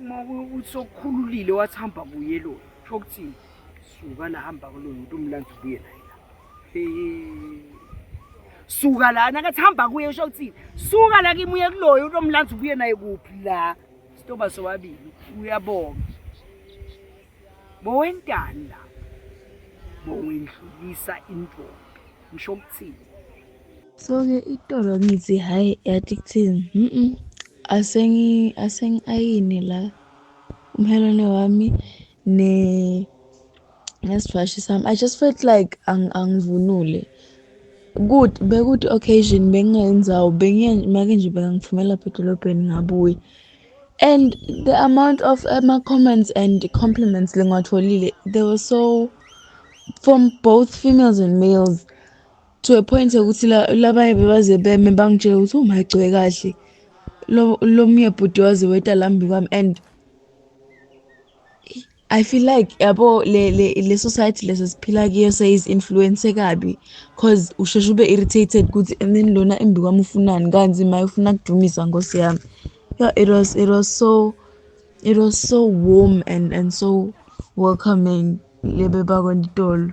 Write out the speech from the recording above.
uma kuyokuthi sokukhululile wathi hamba kuye lo sho ukuthini suka la hamba kuloyo umuntu umlanda ubuye naye la suka la nakathi hamba kuye usho ukuthi suka la kimi uye kuloyo uthi omlanzi ubuye naye kuphi la sitoba sobabili uyabonga bowentanda bowendlulisa intombi ngisho ukuthini so ke itolo ngithi hhayi yathi kuthini mm asengi-ayine la umhelwane wami ne nesifashi sami i just felt like angivunule good bekuthi occasion bengingenzawo bengiye make nje bekangifumela lapha edolobheni ngabuye and the amount of ama-comments eh, and compliments lengiwatholile they were so from both females and males to a point ukuthi labaye bebaze beme bangitshela ukuthi umagcwe kahle lo mye bhuti waze weta lambi kwami and I feel like yabo le le le society lesa siphila kiyo says influence kabi cause usheshe ube irritated ukuthi and then lona embi kwami ufunani kanzi maye ufuna kudumisa ngosi yami yeah it was it was so it was so warm and and so welcoming lebe bakwa Ntolo